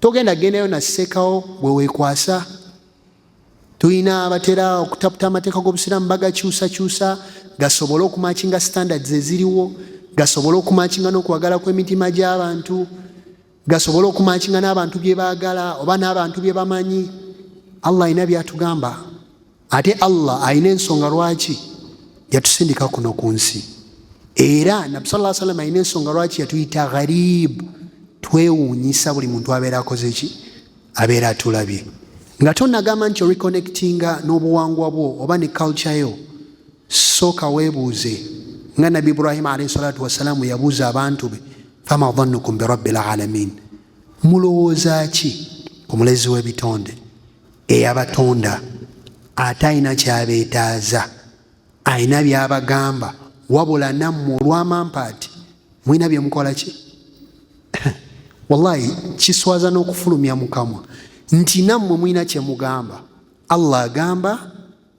togenda gendayo nasekawo bwewekwasa tulina abatera okutaputa amateeka g'obusiraamu bagakyusakyusa gasobole okumakinga standards eziriwo gasobole okumakinga n'okwagala kw'emitima gy'abantu gasobole okumakinga n'abantu bye baagala oba n'abantu bye bamanyi allah alina byatugamba ate allah alina ensonga lwaki yatusindika kuno ku nsi era nabi saa salama alina ensonga lwaki yatuyita gharibu twewuunyisa buli muntu abeera akoze ki abeera atulabye nga tonagamba nti oreconnectinga n'obuwangwa bwo oba ne culture yo sooka weebuuze nga nabi ibrahima alaihi salatu wassalaamu yabuuza abantu be fama dhannukum birabbi lalamin mulowooza ki ku mulezi w'ebitonde eyabatonda ate alina kyabeetaaza alina byabagamba wabula nammwe olwamampaati mulina byemukola ki wallahi kiswaza n'okufulumya mukamwa nti nammwe mulina kyemugamba allah agamba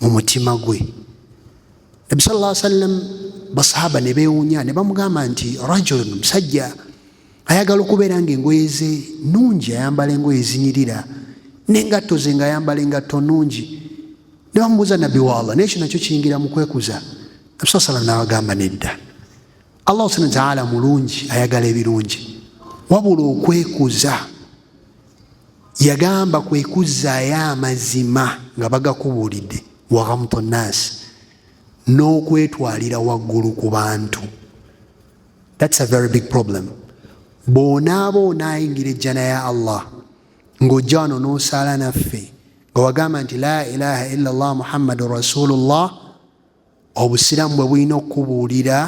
mu mutima gwe nabi sal llah sallam basahaba ne beewunya ne bamugamba nti rajulun musajja ayagala okubeera nga engoye ze nungi ayambala engoye zinyirira nengatto ze nga ayambala engatto nungi ne bamubuuza nabbi wa allah naye kyo nakyo kiyingira mu kwekuza nabi saa salam naabagamba nedda allah subhana wataala mulungi ayagala ebirungi wabula okwekuza yagamba kwe kuzzaayo amazima nga bagakubuulidde waghamto nnaasi n'okwetwalira waggulu ku bantu thats a very big problem bw'onaaba onaayingira ejjana ya allah ng'ojja wano n'osaala naffe nga wagamba nti la ilaha illa llah muhammadun rasulullah obusiraamu bwe bulina okukubuulira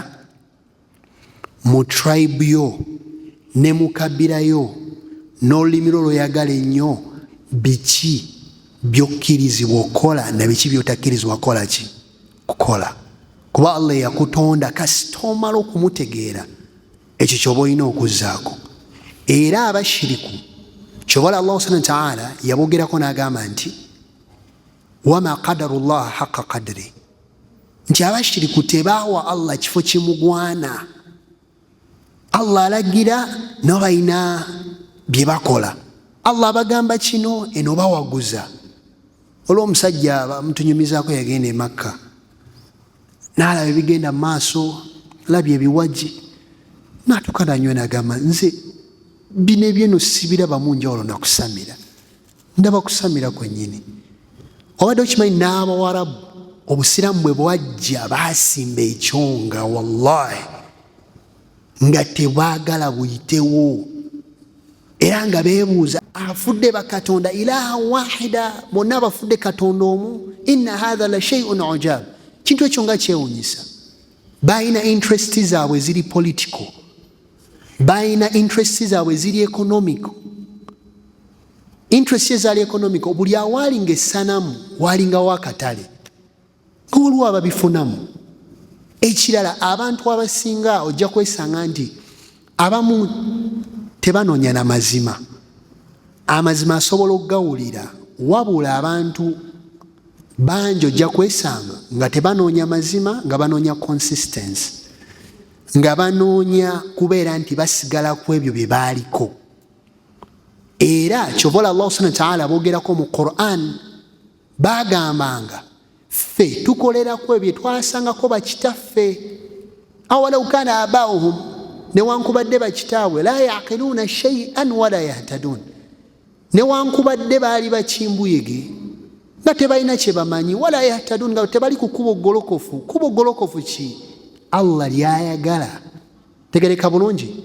mu tribe yo ne mu kabira yo n'olulimi lwo lweyagala ennyo biki byokkirizibwa okukola na biki byotakkirizibwa kukola ki kukola kuba allah eyakutonda kasita omala okumutegeera ekyo kyoba olina okuzzaako era abashiriku kyobala allah subhana wataala yabogerako n'agamba nti wama qadaru llaha haqa qadri nti abashiriku tebaawa allah kifo kimugwana allah alagira nabo balina bye bakola allah abagamba kino eno bawaguza olwo omusajja bamutunyumizaako yagenda emakka naalaba ebigenda mu maaso labye ebiwaji natuka nanywe nagamba nze bino ebyeno sibirabamu njawulo nakusamira ndaba kusamira kwennyini obadde okimanyi n'abawarabu obusiraamu bwe bwajja baasimba ekyonga wallahi nga tebwagala buyitewo era nga beebuuza afudde bakatonda ilaha wahida bonna abafudde katonda omu inna hatha la sheiun ujab kintu ekyo nga kyewunyisa balina interest zaabwe ziri political balina interest zaabwe ziri economical interest ezaali economical buli awaalinga essanamu waalingawo akatale nga waliwo ababifunamu ekirala abantu abasinga ojja kwesanga nti abamu tebanoonya na mazima amazima asobola okugawulira wabula abantu bangi ojja kwesanga nga tebanoonya mazima nga banoonya consistency nga banoonya kubeera nti basigala ku ebyo bye baaliko era kyobola allah subhana wataala abogerako mu quran bagambanga ffe tukolerako ebyo twasangako bakitaffe awalau kana abauhum newankubadde bakitaabwe la yaqiluuna shaian wala yahtaduun newankubadde baali bakimbuyege nga tebalina kyebamanyi wala yahtaduun nga tebali ku kubo golokofu kubo golokofu ki allah lyayagala tegereka bulungi